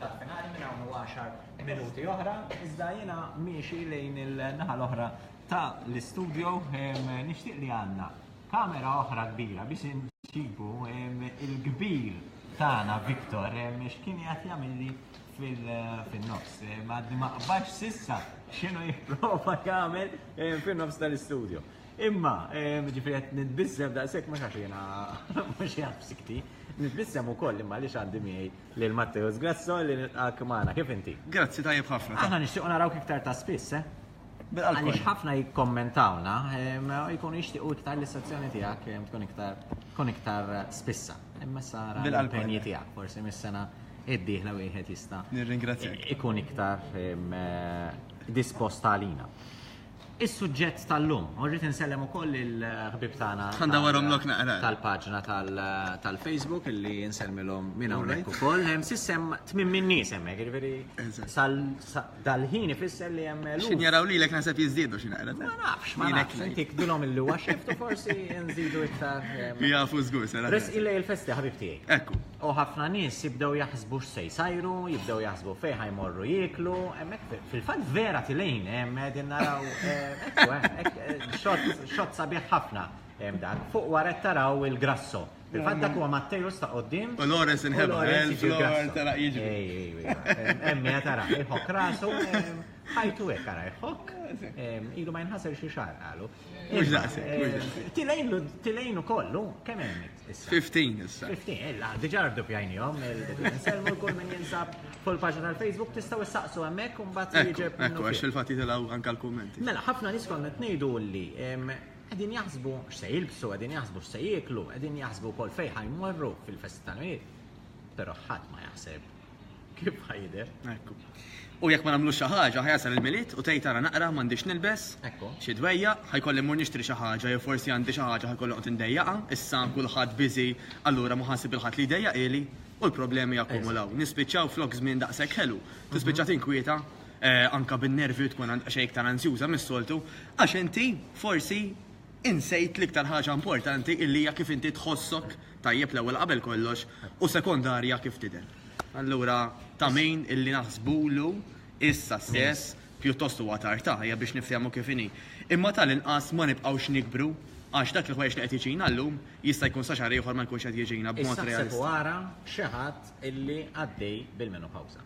Dak finali minn hawn 10 minuti oħra, iżda jiena miexi lejn il-naħa l-oħra ta' l-istudio nixtieq li għandna kamera oħra kbira biex inġibu il-kbir tagħna Viktor x'kien jgħat jagħmilli fil-nofs. Ma qbax sissa x'inhu jipprova jagħmel fin-nofs tal-istudio. Imma, ġifri qed nitbissem daqshekk ma xax jiena mhux jaf sikti, nitbissem ukoll imma li x'għandi miegħi Lil Matteo Sgrasso li nilqgħek magħna. Kif inti? Grazzi, tajjeb ħafna. Aħna nixtiequ narawk iktar ta' spiss, eh? Bil-qalb. Għaliex ħafna jikkommentawna, ehm, jkunu jixtiequ iktar li s-sezzjoni tiegħek ehm, tkun iktar tkun iktar eh, spissa. Imma sara Bil-qalb. l-impenji tiegħek, forsi mis-sena id-dieħla wieħed jista' Nirringrazzjak. ikun iktar ehm, eh, disposta għalina. Is-suġġett tal-lum, u rrid insellem ukoll il-ħbib tagħna. Għandha warhom lok naqra. Tal-paġna tal-Facebook illi insellmilhom minn hawnhekk ukoll. Hemm sissem tmim min nies hemmhekk, jiġifieri dal-ħin ifisser li hemm lum. X'in jaraw lilek naħseb jiżdiedu xi naqra. Ma nafx, ma nafx. Intik bilhom illi huwa xift u forsi nżidu iktar. Jafu żgur, sara. Res illi il-festi ħabib tiegħi. Ekku. U ħafna nies jibdew jaħsbu x'se jsajru, jibdew jaħsbu fejn ħajmorru jieklu, hemmhekk fil-fatt vera tilejn hemm qegħdin naraw xott sabiħ ħafna hemm dak. Fuq wara qed taraw il-grasso. Fil-fatt dak huwa Mattejus ta' qoddim. U Lawrence inħebba, tara jiġri. Ej, ej, ej. Hemm tara, iħok rasu, ħajtu hekk ara iħok. Ilu ma jinħasel xi xahar qalu. Mhux daqshekk, mhux daqshekk. Tilejn ukoll, kemm hemm 15 issa. 15, illa, diġa rdupjajnijom, il-selmu l-kull minn jinsab fuq il-paġna tal-Facebook, tistaw s-saqsu għemmek, un bat jġeb. Ekku, għax il-fatti tilaw anka l-kommenti. Mela, ħafna nis konna t-nejdu li għedin jaħsbu x'se jilbsu, għedin jaħsbu x'se jiklu, għedin jaħsbu kol fejħa jmorru fil-festa tal-mijiet. Pero ħadd ma jaħseb Kif ħajder? Ekku. U jekk ma nagħmlux xi ħaġa, ħajasal il-Milied u tgħid ara naqra m'għandix nilbes, xi dwejja, ħajkolli mmur nixtri xi ħaġa jew forsi għandi xi ħaġa ħajkolli noqgħod indejjaqha, issa kulħadd biżi, allura ma ħa nsib lil ħadd li jdejjaqili u l-problemi jakkumulaw. Nispiċċaw flok żmien daqshekk ħelu, tispiċċa tinkwieta, anke bin-nervi u tkun xejn iktar anzjuża mis-soltu, għax inti forsi Insejt l-iktar ħaġa importanti illi hija kif inti tħossok tajjeb l-ewwel qabel kollox u sekondarja kif tidher. Allura ta' min illi naħsbulu issa stess pjuttost huwa tard ta' hija biex niftehmu kif inhi. Imma ta' l-inqas ma nibqgħux nikbru għax dak il-ħwejjeġ li qed jiġina llum jista' jkun sa xahar ieħor ma jkunx qed jiġina b'mod realistiku. Issa ħseb u ara xi ħadd illi għaddej bil-menopawsa.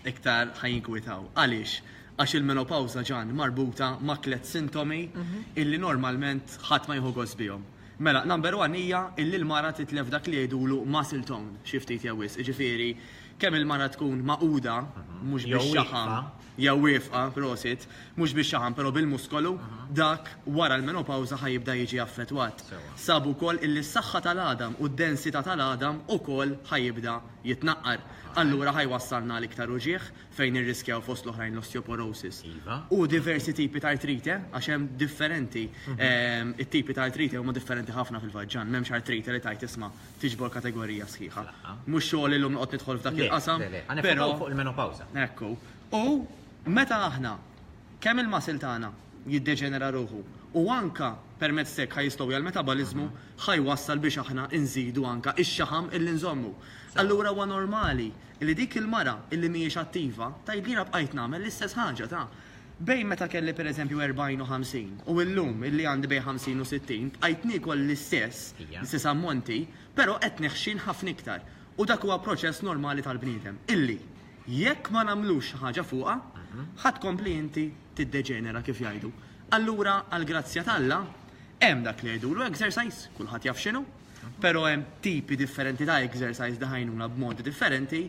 iktar ħajinkwitaw. Għaliex? Għax il-menopawża ġan marbuta ma' tliet sintomi mhm. illi normalment ħadd ma jieħu gost bihom. Mela, number one hija illi l-mara titlef dak li jgħidulu muscle tone xi ftit jew wis. Ġifieri, kemm il-mara tkun maquda mhm. mhux biex xaħam jew wifqa prosit, mhux biex xaħam però bil-muskolu, mhm. dak wara l-menopawża ħajibda jiġi affettwat. Sabu wkoll illi s-saħħa tal-għadam u d-densità tal-għadam ukoll ħajibda jitnaqqar, allura ħa jwassalna għal iktar uġigħ, fejn nirriskjaw fost l-oħrajn l-osteoporosis u diversi tipi ta' artrite, għax hemm differenti, it-tipi ta' artrite huma differenti ħafna fil-vaġġan, m'hemmx artrite li tgħid isma' tiġbor kategorija sħiħa. Mhux xogħli llum noqgħod nidħol f'dak il-qasam, però. Le, le, le, ħa nifokaw fuq il-menopawża. Ekku. U meta aħna, kemm il-muscle tagħna jiddeġenera ruħu u anke permezz t'hekk ħa jistgħu jgħal-metaboliżmu, ħa jwassal biex aħna nżidu anke x-xaħam illi nżommu. Allura huwa normali illi dik il-mara illi mhijiex attiva tgħid li jiena bqajt nagħmel l-istess ħaġa ta' bejn meta kelli pereżempju 40 u 50 u llum illi għandi bejn 50 u 60 bqajt niekol l-istess, l-istess ammonti, però qed neħxin ħafna iktar. U dak huwa proċess normali tal-bniedem illi jekk ma nagħmlux xi ħaġa fuqha, ħa tkompli inti tiddeġenera kif jgħidu. Allura għall-grazzja t'Alla, Hemm dak li jgħidulu exercise, kulħadd jaf x'inhu, però hemm tipi differenti ta' exercise li ħajnuna b'modi differenti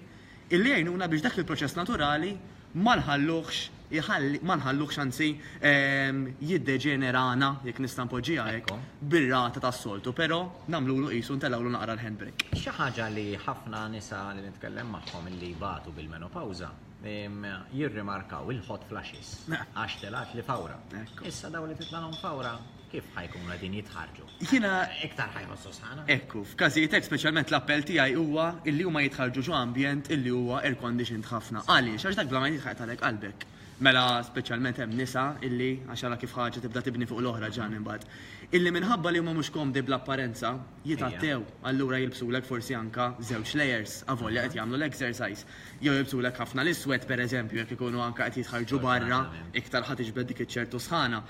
illi jgħinuna biex dak il-proċess naturali ma nħalluhx iħalli ma nħalluhx anzi jiddeġenerana, jekk nista' npoġġiha hekk, bir-rata tas-soltu, però nagħmlulu qisu ntellgħulu naqra l-handbrake. Xi ħaġa li ħafna nisa li nitkellem magħhom illi jbatu bil-menopawża, jirrimarkaw il-hot flashes għax telgħat li fawra. Issa daw li titlalhom fawra kif ħajkun għadin jitħarġu? Jina. Iktar ħajħossu sħana. Ekku, f'każijiet speċjalment l-appell tiegħi huwa illi huma jitħarġu ġo ambjent illi huwa air conditioned ħafna. Għaliex? Għax dak bla ma jitħaqet għalek qalbek. Mela speċjalment hemm nisa illi għax ara kif ħaġa tibda tibni fuq l-oħra ġan imbagħad. Illi minħabba li huma mhux komdi bl-apparenza, jitgħattew, allura jilbsulek forsi anke żewġ layers avolja qed jagħmlu l-exercise. Jew jilbsulek ħafna l-iswed, pereżempju, jekk ikunu anke qed jitħarrġu barra, iktar ħa tiġbed dik iċ-ċertu sħana.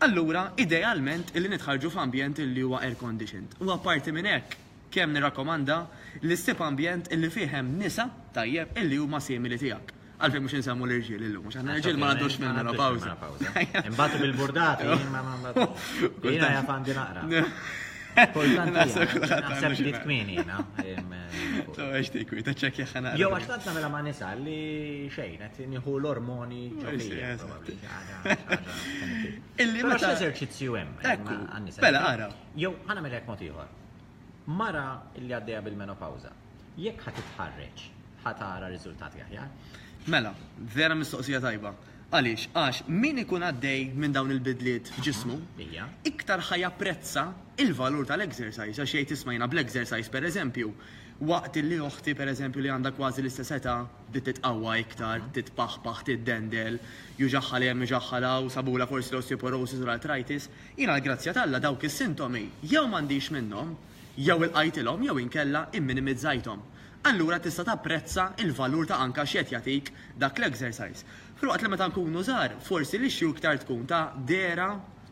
Allura, idealment, illi nitħarrġu f'ambjent illi huwa air conditioned. U apparti minn hekk, kemm nirrakkomanda li ssib ambjent illi fih hemm nisa, tajjeb, illi huma simili tiegħek. Għalfejn mhux insemmu l-irġiel illum, mhux aħna l-irġiel ma għandux minn mela pawża. Imbagħad bil-burdati, ma ma ma. Jiena jaf għandi naqra. Kultant naħseb li tkmini jiena. Taw għax tikwi, ta' ċekk jaħħana. Jew għax tant nagħmilha ma' nisa li xejn qed nieħu l-ormoni ġobija. Illi ma ta' eżerċizzju hemm. Mela, ara. Jew ħana mela jekk mod ieħor. Mara li għaddejja bil-menopawża. Jekk ħa titħarreġ, ħa tara riżultati aħjar. Mela, vera mistoqsija tajba. Għaliex? Għax min ikun għaddej minn dawn il-bidliet f'ġismu, iktar ħa japprezza l-valur tal-exercise għax jgħid isma' jiena bl-exercise pereżempju, waqt li oħti pereżempju li għandha kważi l-istess età bdiet titqawwa iktar, titpaħpaħ, tiddendel, juġagħha 'l hemm, juġagħha 'l hawn, sabulha forsi l-osteoporosis u l-arthritis, jiena l-grazzja t'Alla dawk is-sintomi jew m'għandix minnhom, jew ilqajtilhom jew inkella imminimizzajthom, allura tista' tapprezza l-valur ta' anka x'qed jagħtik dak l-exercise. Filwaqt li meta nkunu żgħar, forsi l-issue iktar tkun ta' dehra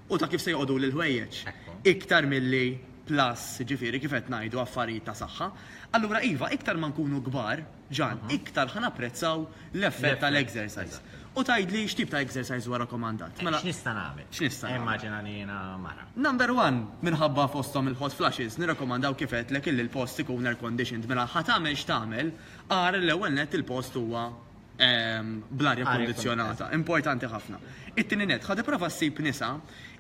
u ta' kif se joqogħduli l-ħwejjeġ, iktar milli plus, jiġifieri kif qed ngħidu affarijiet ta' saħħa. Allura iva, iktar ma nkunu kbar, Ġan, iktar ħa napprezzaw l-effett tal-exercise. U tgħidli x'tip ta' exercise huwa rakkomandat. Mela. X'nista' nagħmel? X'nista' nagħmel? Immaġina li jiena mara. Number one, minħabba fosthom il-hot flashes, nirrakkomandaw kif għedtlek illi l-post ikun air conditioned. Mela ħa tagħmel x'tagħmel, ara li l-ewwel nett il-post huwa bl-arja kkundizzjonata. Importanti ħafna. It-tieni nett, ħa tipprova ssib nisa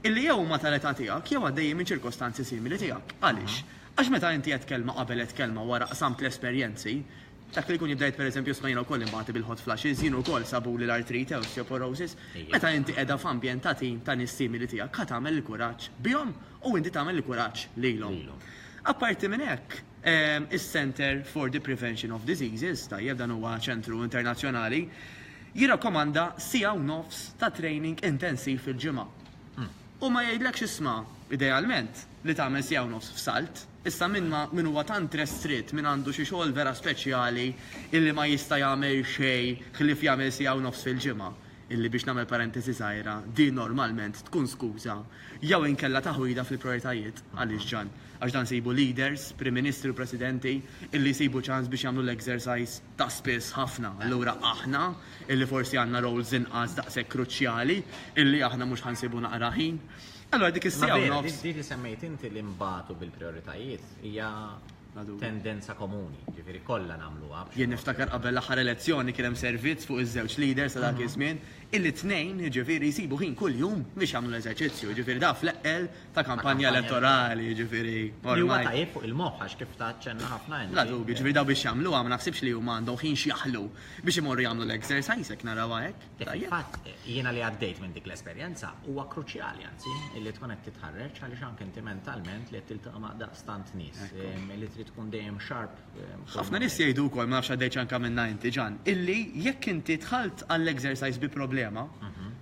illi jew huma tal-età tiegħek jew għaddejjin minn ċirkostanzi simili tiegħek. Għaliex? Għax meta inti għedt kelma qabel għedt kelma wara qsamt l-esperjenzi, dak li jkun jibda jgħid pereżempju isma' jiena wkoll inbati bil-hot flashes, jien ukoll sabuli l-artrite, osteoporosis, meta inti qiegħda f'ambjent ta' tim ta' nies simili tiegħek ħa tagħmel il-kuraġġ bihom u inti tagħmel il-kuraġġ lilhom. Apparti minn hekk, is-Centre for the Prevention of Diseases, tajjeb dan huwa ċentru internazzjonali, jirrakkomanda siegħa u nofs ta' training intensiv fil-ġimgħa. Hu ma jgħidlekx isma', idealment, li tagħmel siegħa u nofs f'salt. Issa min ma, min huwa tant restritt, min għandu xi xogħol vera speċjali illi ma jista' jagħmel xejn ħlief jagħmel siegħa u nofs fil-ġimgħa, illi biex nagħmel parentesi żgħira, din normalment tkun skuża jew inkella taħwida fil-prijoritajiet. Għaliex ġan? Għax dan isibu leaders, prim ministri u presidenti illi jsibu ċans biex jagħmlu l-exercise. ta' spiss ħafna, allura aħna, illi forsi għandna roles inqas daqshekk kruċjali, illi aħna mhux ħa nsibu naqra ħin. Allura dik is-siegħa u nofs. Dik li semmejt inti li nbatu bil-prijoritajiet hija tendenza komuni, ġifieri kollha nagħmluha. Jien niftakar qabel l-aħħar elezzjoni kien hemm servizz fuq iż-żewġ leaders ta' dak iż-żmien, illi t-tnejn, jiġifieri jsibu ħin kuljum biex jagħmlu l-eżerċizzju, jiġifieri da fl-eqqel, ta' kampanja elettorali, ġifiri. Li huwa tajjeb fuq il-moħħ għax kif ta' ċenna ħafna għen. La dubi, ġifiri daw biex jagħmlu għam naħsibx li huma għandhom ħin x'jaħlu biex imorru jagħmlu l-exercise hekk narawha hekk. Fatt, jiena li għaddejt minn dik l-esperjenza huwa kruċjali anzi li tkun qed titħarreġ għaliex anke inti mentalment li qed tiltaqa' ma' daqstant nies li trid tkun dejjem sharp Ħafna nies jgħidu wkoll, ma nafx għaddejtx anke minnha inti Ġan, illi jekk inti dħalt għall-exercise bi problema,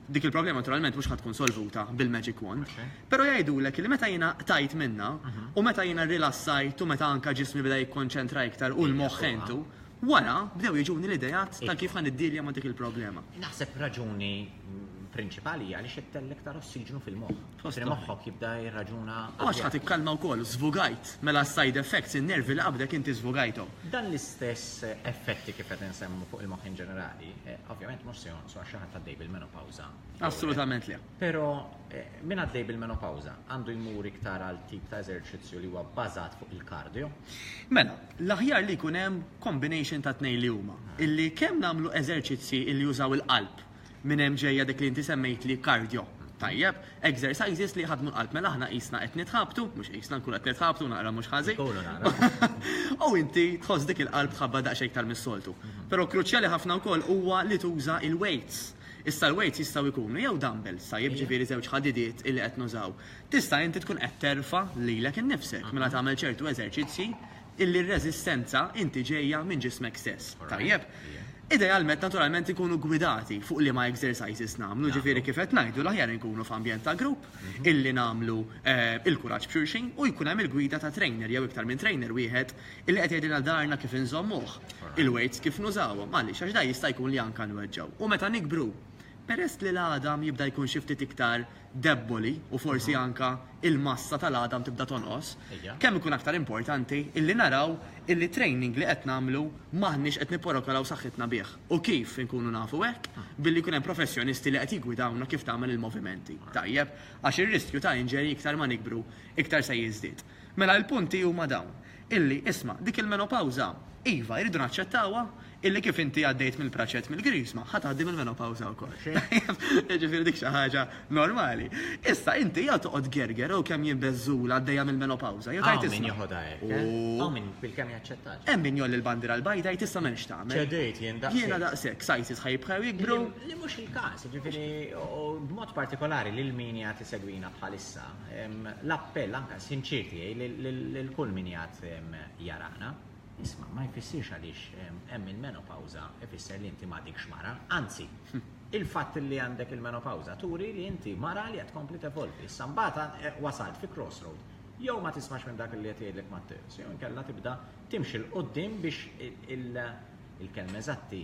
dik il-problema naturalment mhux ħa tkun solvuta bil-magic wand, però jgħidulek illi meta jiena qtajt minnha u meta jiena rrilassajt u meta anke ġismi beda jikkonċentra iktar u l-moħħ ħejtu, wara bdew jiġuni l-ideat ta' kif ħa niddilja ma' dik il-problema. Naħseb raġuni prinċipali hija għaliex qed tellgħek iktar ossiġnu fil-moħħ. Tħossli moħħok jibda jirraġuna. U għax ħa tikkalma wkoll, żvugajt. Mela s-side effects, in-nervi li qabdek inti żvugajthom. Dan l-istess effetti kif qed insemmu fuq il-moħħ in ġenerali, ovvjament mhux se jonqsu għax xi ħadd għaddej bil-menopawża. Assolutament le. Però min għaddej bil-menopawża għandu jmur iktar għal tip ta' eżerċizzju li huwa bbażat fuq il-kardjo? Mela, l-aħjar li jkun hemm combination tat-tnejn li huma. Illi kemm nagħmlu eżerċizzji illi jużaw il-qalb Minn hemm ġejja dik li inti semmejtli cardio. Tajjeb. Exercises li jħaddmu l-qalb. Mela aħna qisna qed nitħabtu, mhux qisna nkunu qed nitħabtu naqra mhux ħażin. U inti tħoss dik il-qalb tħabbat daqsxejn iktar mis-soltu. Però kruċjali ħafna wkoll huwa li tuża il-weights. Issa l-weights jistgħu jkunu jew dumbbells, tajjeb, ġifieri żewġ ħadidiet illi qed nużaw. Tista' inti tkun qed terfa' lilek innifsek mela tagħmel ċertu eżerċizzji illi r-reżistenza inti ġejja minn ġismek stess. Tajjeb. Idealment naturalment inkunu gwidati fuq liema exercises nagħmlu, ġifieri kif qed ngħidu l-aħjar inkunu f'ambjent ta' grupp illi nagħmlu il-kuraġġ b'xulxin u jkun hemm il-gwida ta' trainer jew iktar minn trainer wieħed illi qed jgħidilna dharna kif inżommuh, il-weights kif nużawhom. Għaliex? Għax dan jista' jkun li anke nweġġgħu. U meta nikbru, peress li l-għadam jibda jkun xi ftit iktar debboli u forsi anke l-massa tal-għadam tibda tonqos, kemm ikun aktar importanti illi naraw illi t-training li qed nagħmlu m'aħniex qed nipporokolaw saħħitna bih. U kif inkunu nafu hekk? Billi jkun hemm professjonisti li qed jiggwidawna kif tagħmel il-movimenti. Tajjeb? Għax ir-riskju ta' injury iktar ma nikbru iktar se jiżdied. Mela il-punti huma dawn, illi, isma', dik il-menopawża, iva, irridu naċċettawha, illi kif inti għaddejt mill-praċett mill-Griżma, ħa tgħaddi mill-menopawża wkoll. Tajjeb? Jiġifieri dik xi ħaġa normali. Issa, inti jew toqgħod tgerger jew kemm jien beżżula għaddejja mill-menopawża, jew tgħid isma'. Hawn min jeħodha hekk, eh? Hawn min bilkemm jaċċettha. Hemm min jgħolli l-bandiera l-bajda jgħid issa m'hemmx x'tagħmel. Ċedejt jien daqshekk. Jiena daqshekk, sizes ħa jibqgħu jikbru. Li mhux il-każ, jiġifieri, u b'mod partikolari lil min qiegħed isegwina bħalissa. L-appell anke sinċier tiegħi lil kull min qiegħed jarana, isma' ma jfissirx għaliex hemm il-menopawża ifisser li inti m'għadikx mara, anzi, il-fatt li għandek il-menopawża turi li inti mara li qed tkompli tevolvi. Issa mbagħad wasalt fi crossroad, jew ma tismax minn dak li qed jgħidlek Matteus, jew inkella tibda timxi 'l quddiem biex il-kelma eżatti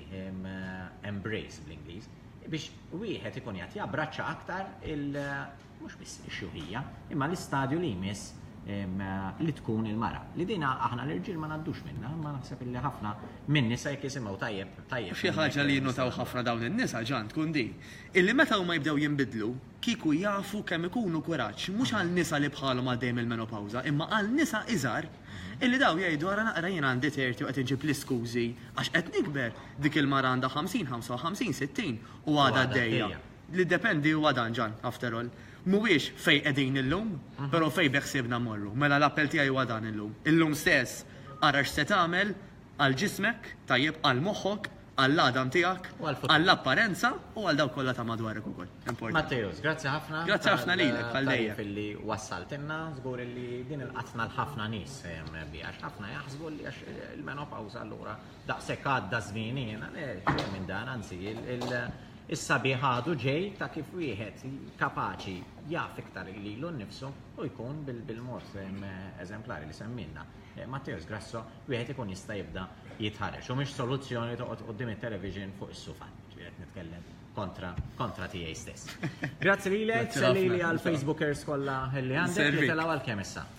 embrace bl-Ingliż, biex wieħed ikun qiegħed jabbraċċa aktar il- mhux biss ix-xjuħija, imma l-istadju li jmiss li tkun il-mara. Li din aħna l-irġiel ma ngħaddux minnha, imma naħseb illi ħafna min-nisa jekk jisimgħu tajjeb, tajjeb. Xi ħaġa li jinnotaw ħafna dawn in-nisa, Ġan, tkun din, illi meta huma jibdew jinbidlu, kieku jafu kemm ikunu kuraġġ, mhux għal nisa li bħalhom għaddejjin mill-menopawża, imma għal nisa iżgħar, illi dawn jgħidu ara naqra jien għandi tirti u qed inġib l-iskużi għax qed nikber, dik il-mara għandha ħamsin, ħamsa u ħamsin, sittin u għadha għaddejja. L-iddependi huwa dan, Ġann, after all. Mhuwiex fejn qegħdin illum, però fejn beħsiebna mmorru. Mela l-appell tiegħi huwa dan illum. Illum stess ara x'se tagħmel għal ġismek, tajjeb, għal moħħok, għall-għadam tiegħek, għall-apparenza u għal dawk kollha ta' madwarek ukoll. Importanti. Matteus, grazzi ħafna. Grazzi ħafna lilek, bħal dejjem. tal-tagħrif li wassaltilna. Żgur li din il-qatna l-ħafna nies se jemmen biha, għax ħafna jaħsbu li għax il-menopawża allura daqshekk għadda żmien jiena xejn minn dan, anzi is-sabiħ għadu ġej ta' kif wieħed kapaċi jaf iktar lilu nnifsu u jkun bil-mod eżemplari li semmilna. Eh, Matteus Grasso, wieħed ikun jista' jibda jitħareġ. U mhix soluzzjoni toqgħod qudiem it-television fuq is-sufa, ġiet nitkellem kontra kontra tiegħi stess. Grazzi lilek, lili għal Facebookers kollha li għandek li telgħu għal kemm issa.